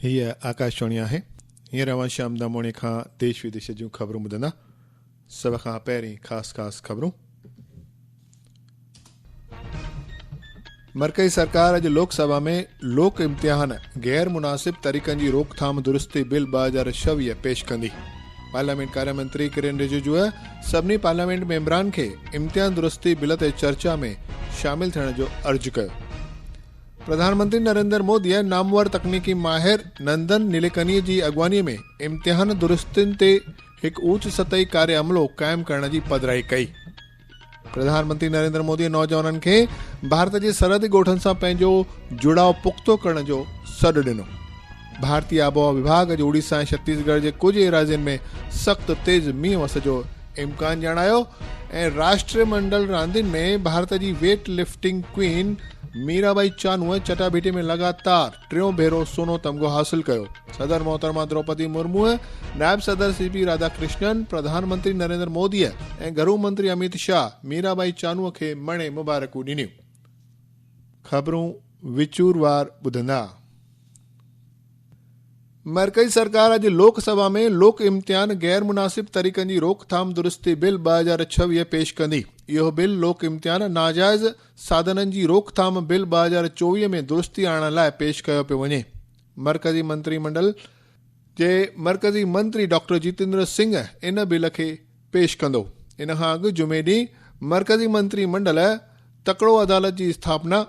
هيء آڪاشواڻي آهي هينئر اوهان شام داموڻي کان ديش وديش جون خبرون ٻڌندا سڀ کان پهرين خاص خاص خبرون مرڪزي سرڪار اڄ لوڪ سڀا ۾ لوڪ امتحان غير مناسب طريقن جي روڪٿام درستي بل ٻه هزار ڇويهه پيش ڪندي پارليامينٽ ڪاريا منتري ڪرين رجوء سڀني پارليامينٽ ميمبران کي امتحان درستي بل تي چرچا ۾ شامل ٿيڻ جو عرض ڪيو پرڌانمنتري نريندر مودي نامور تڪنيڪي ماهر نندن نيليڪني جي اڳواڻي ۾ امتحان درستين تي هڪ اوچ سطحي ڪاري عملو قائم ڪرڻ جي پڌرائي ڪئي پرڌان منتري نريندر مودي نوجوانن کي ڀارت جي سرحدي ڳوٺن سان پنهنجو جڙاء پختو ڪرڻ جو سڏ ڏنو ڀارتي آبهوا وڀاڳ اڄ اوڙيسا ۽ ڇتيس ڳڙهه جي ڪجهه ايراضين ۾ سخت تيز مينهن وس جو امڪان ڄاڻايو ۽ راشٽري منڊل راندين ۾ ڀارت جي weightlifting queen Mira Bai Chanu چٽاڀيٽي ۾ لڳاتار ٽيون ڀيرو سونو تمغو حاصل ڪيو صدر محترمه دروپدي مرموء نائب صدر سي پي راڌا ڪرشنن پرڌان منتري نريندر موديء ۽ گهرو منتري اميت شاهه ميرا بائي چانوء کي مڻي مبارڪون ڏنيون خبرون وچور وار ٻڌندا مرڪزي سرڪار اڄ لوڪ سڀا ۾ لوڪ امتحان غير مناسب طريقن جي روڪٿام درستي بل ٻه هزار ڇويهه پيش ڪندي اهو بل لوڪ امتحان ناجائز سادنن جي روڪٿام بل ٻه هزار چوويهه ۾ درستي آڻڻ لاء پيش ڪيو پيو وڃي مرڪزي منتري منڊل جي مرڪزي منتري ڊاڪٽر جيتندر سنگهه ان بل کي پيش ڪندو ان کان اڳ جمعي ڏينهن مرڪزي منتري منڊل تڪڙو عدالت جي اسٿاپنا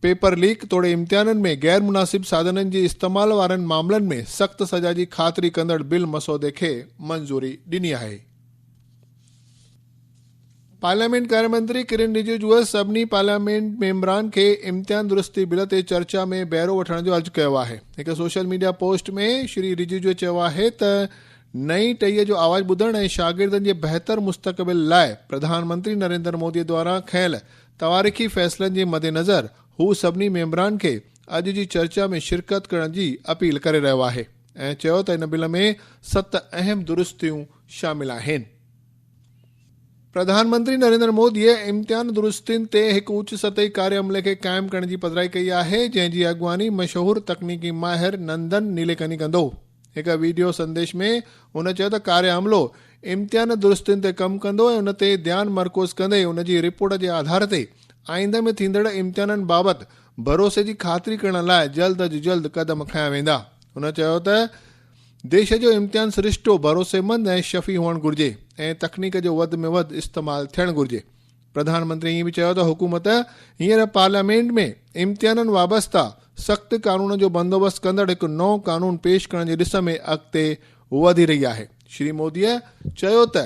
پيپر ليڪ توڙي امتحانن ۾ غير مناسب سادنن جي استعمال وارن معاملن ۾ سخت سزا جي خاطري ڪندڙ بل مسودي کي منظوري ڏني آهي پارليامينٽ ڪاري منتري ڪرن رجيجوء سڀني پارليامينٽ ميمبران کي امتحان درستي بل تي چرچا ۾ بهرو وٺڻ جو عرض ڪيو آهي هڪ سوشل ميڊيا پوسٽ ۾ شري رجيجوء چيو آهي ته نئين ٽهيء جو آواز ٻڌڻ ۽ شاگردن جي بهتر مستقبل لاء پرڌان منتري نريندر موديء دوارا کنيل تواريخي فيصلن جي مدنظر هو سڀني ميمبران کي اڄ جي چرچا ۾ شرڪت ڪرڻ جي اپيل ڪري رهيو آهي ۽ چيو ته ان بل ۾ ست اهم درستيون شامل آهن. پرڌان منتري نريندر مودي امتحان درستين تي هڪ اوچ سطحي ڪاري عملي کي قائم ڪرڻ جي پڌرائي ڪئي آهي جنهن جي اڳواڻي مشهور تڪنيڪي ماهر نندن نيليڪني ڪندو هڪ ويڊيو سنديش ۾ هن چيو ته ڪاري عملو امتحان درستين تي ڪم ڪندو ۽ ان تي ڌيان مرڪوز ڪندي ان جي رپورٽ جي آڌار تي آئنده ۾ ٿيندڙ امتحانن بابت ڀروسي جي خاطري ڪرڻ لاء جلد از جلد قدم کنيا ويندا. هن چيو ته ديش جو امتحان سرشتو ڀروسيمند ۽ شفي هئڻ گهرجي ۽ تڪنيڪ جو وڌ ۾ وڌ استعمال ٿيڻ گهرجي. پرڌان منتري ائين به چيو ته حڪومت هينئر پارليامينٽ ۾ امتحانن وابسته سخت قانون جو بندوبست ڪندڙ هڪ نئون قانون پيش ڪرڻ جي ڏس ۾ اڳتي وڌي رهي آهي. شري موديء چيو ته.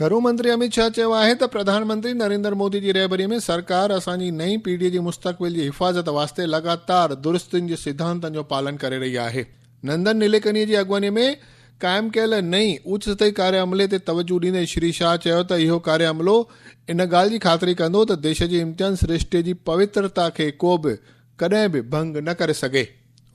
گهرو منتري اميت شاهه چيو آهي ته پرڌان منتري نريندر مودي جي رهبري ۾ سرڪار اسان جي نئين پيڙهي جي مستقبل جي حفاظت واسطي لڳاتار درستين جي سڌانتن جو پالن ڪري رهي آهي. نندن نيليڪنيء جي اڳواڻي ۾ قائم ڪيل نئين اوچ سطحي ڪاري عملي تي توجهه ڏيندي شري شاهه چيو ته اهو ڪاري عملو ان ڳالهه جي خاطري ڪندو ته ديش جي امتحان سرشتي جي پوترتا کي ڪو به ڪڏهن به ڀنگ نه ڪري سگهي.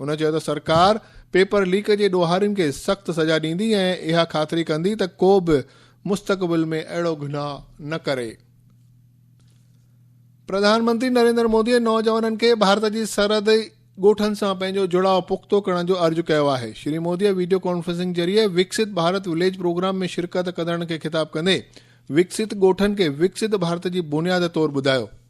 هن چيو ته سرڪار پيپر ليڪ جي ڏوهارين کي سخت سزا ڏيندي ۽ اها خاطري ڪندي ته ڪو به مستقبل ۾ اهڙو گناهه نه ڪري. پرڌان منتري نريندر مودي نوجوانن کي ڀارت جي سرحدي ڳوٺن سان پنهنجو جڙاء پختو ڪرڻ جو عرض ڪيو آهي. شري مودي ويڊيو ڪانفرنسنگ ذريعي وڪسيت ڀارت وليج پروگرام ۾ شرڪت ڪندڙن کي خطاب ڪندي وڪسيت ڳوٺن کي وڪسيت ڀارت جي بنياد طور ٻڌايو.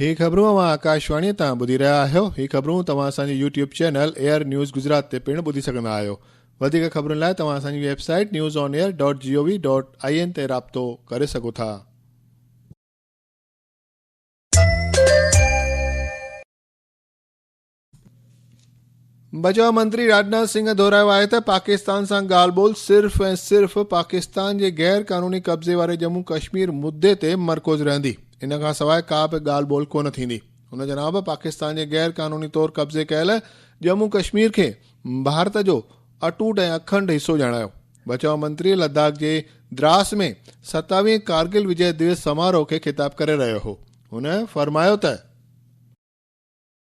هي خبرون اوهان آڪاشواڻي تان ٻڌي رهيا آهيو. هي خبرون توهان اسان جي YouTube channel Air News Gujarat تي پڻ ٻڌي سگهندا آهيو. وڌيڪ خبرن لاء توهان اسان جي web site newsonair dot G O V dot I N تي رابطو ڪري سگهو ٿا. بچاء منتري راجناٿ سنگهه دهرايو آهي ته پاڪستان سان ڳالهه ٻولهه صرف ۽ صرف پاڪستان جي غير قانوني قبضي واري ڄمون ڪشمير مدي تي مرڪوز رهندي ان کان سواء ڪا به ڳالهه ٻولهه ڪونه ٿيندي هن جناب پاڪستان جي غير قانوني طور قبضي ڪيل ڄمون ڪشمير کي ڀارت جو اٽوٽ ۽ اکنڊ حصو ڄاڻايو بچاء منتري لداخ جي دراس ۾ ستاويهين ڪارگل وجي دويس سماروه کي خطاب ڪري رهيو هو هن فرمايو ته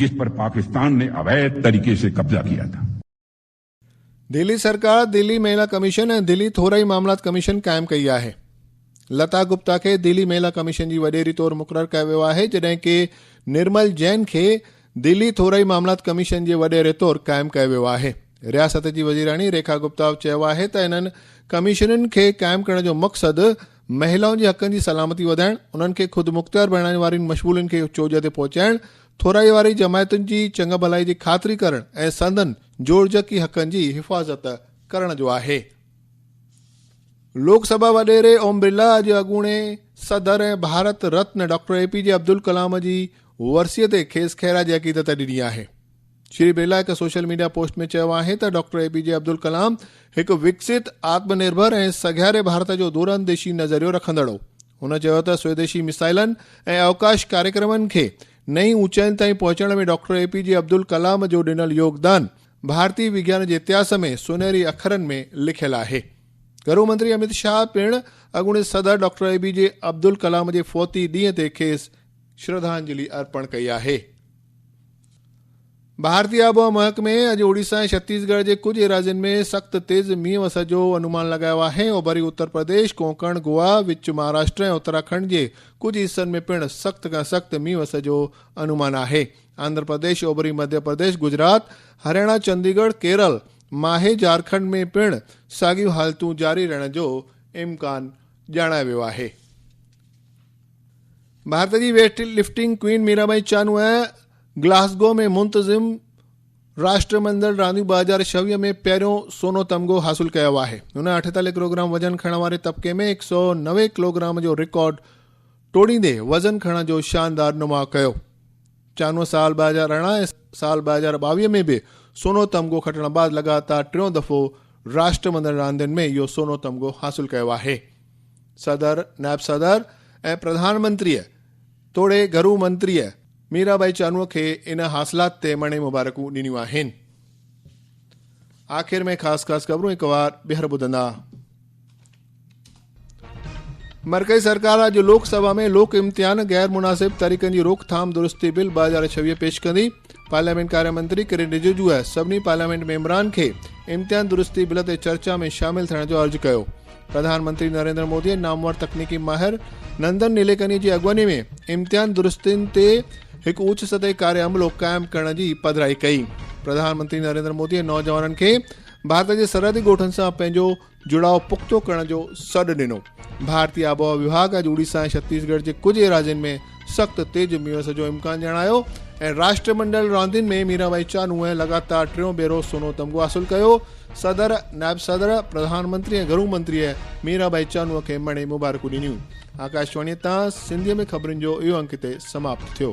جس پر پاڪستان ني اويد طريقي سي قبضا ڪيا ٿا. دهلي سرڪار دهلي مهيلا ڪميشن ۽ دهلي ٿورائي معاملات ڪميشن قائم ڪئي آهي. لتا گپتا کي دهلي مهيلا ڪميشن جي وڏيري طور مقرر ڪيو ويو آهي جڏهن ڪي نرمل جين کي دهلي ٿورائي معاملات ڪميشن جي وڏيري طور قائم ڪيو ويو آهي. رياست جي وزيراڻي ريکا گپتا چيو آهي ته انهن ڪميشنن کي قائم ڪرڻ جو مقصد مهلائن جي حقن جي سلامتي وڌائڻ، انهن کي خودمختيار بڻائڻ وارين مشمولين کي چوڄ تي پهچائڻ، ٿورائي وارين جماعتن جي چڱ ڀلائي جي خاطري ڪرڻ ۽ سندن جوڙجڪي حقن جي حفاظت ڪرڻ جو آهي. لوڪ سڀا وڏيري اوم برلا اڄ اڳوڻي صدر ۽ Bharat Ratna doctor A P J Abdul Kalam جي ورسيء تي کيس خيرا جي عقيدت ڏني آهي. شري برلا هڪ سوشل ميڊيا پوسٽ ۾ چيو آهي ته doctor A P J Abdul Kalam هڪ وڪسيت، آتم نرڀر ۽ سگهاري ڀارت جو دور انديشي نظريو رکندڙ هو. هن چيو ته سويديشي ميسائلن ۽ اوڪاش ڪاريڪرمن کي نئين اوچاين تائين پهچڻ ۾ doctor A P J Abdul Kalam جو ڏنل يوگدان ڀارتي وگيان جي اتهاس ۾ سونهري اکرن ۾ لکيل آهي. گهرو منتري اميت شاهه پڻ اڳوڻي صدر doctor A P J Abdul Kalam جي فوتي ڏينهن تي کيس شرڌانجلي ارپڻ ڪئي آهي. ڀارتي آبهوا محڪمي اڄ اوڙيسا ۽ ڇتيس ڳڙهه جي ڪجهه ايراضين ۾ سخت تيز مينهن وسڻ جو انومان لڳايو آهي، اوڀري اتر پرديش، ڪونڪڻ، گوا، وچ مهاراشٽر ۽ اتراکنڊ جي ڪجهه حصن ۾ پڻ سخت کان سخت مينهن وسڻ جو انومان آهي، آندھرا پرديش، اوڀري مڌيا پرديش، گجرات، هرياڻا، چندي ڳڙهه، ڪيرل، ماهي، جهارکنڊ ۾ پڻ ساڳيون حالتون جاري رهڻ جو امڪان ڄاڻايو ويو آهي. ڀارت جي weightlifting queen Mirabai Chanu Glasgow ۾ منتظم راشٽرمنڊل رانديون 2026 ۾ پهريون سونو تمغو حاصل ڪيو آهي هن 48 ڪلوگرام وزن کڻڻ واري طبقي ۾ 190 ڪلوگرام جو رڪارڊ ٽوڙيندي وزن کڻڻ جو شاندار نماء ڪيو چانو سال ٻه هزار ارڙهن ۽ سال ٻه هزار ٻاويهه ۾ به سونو تمغو کٽڻ بعد لڳاتار ٽيون دفعو راشٽرمندڙ راندين ۾ اهو سونو تمغو حاصل ڪيو آهي. صدر، نائب صدر ۽ پرڌان منتريء توڙي گهرو منتريء ميرا بائي چانوء کي ان حاصلات تي مڻي مبارڪون ڏنيون آهن. آخر ۾ خاص خاص خبرون هڪ وار ٻيهر ٻڌندا. مرڪزي سرڪار اڄ لوڪ سڀا ۾ لوڪ امتحان غير مناسب طريقن جي روڪٿام درستي بل ٻه هزار ڇويهه پيش ڪندي پارليامينٽ ڪاريا منتري ڪرين رججوء سڀني پارليامينٽ ميمبران کي امتحان درستي بل تي چرچا ۾ شامل ٿيڻ جو عرض ڪيو پرڌان منتري نريندر مودي ۽ نامور تڪنيڪي ماهر نندن نيليڪني جي اڳواڻي ۾ امتحان درستين تي هڪ اوچ سطحي ڪاري عملو قائم ڪرڻ جي پڌرائي ڪئي پرڌان منتري نريندر مودي نوجوانن کي ڀارت جي سرحدي ڳوٺن سان پنهنجو جڙاء پختو ڪرڻ جو سڏ ڏنو. ڀارتي آبهوا وڀاڳ اڄ اوڙيسا ۽ ڇتيس ڳڙهه جي ڪجهه ايراضين ۾ سخت تيز مينهس جو امڪان ڄاڻايو ۽ راشٽرمنڊل راندين ۾ ميرا ڀائي چانوء لڳاتار ٽيون ڀيرو سونو تمغو حاصل ڪيو، صدر، نائب صدر، پرڌان منتري ۽ گهرو منتريء ميرا ڀائي چانوء کي مڻي مبارڪون ڏنيون. آڪاشواڻيء تان سنڌيء ۾ خبرن جو اهو انڪ هتي سماپت ٿيو.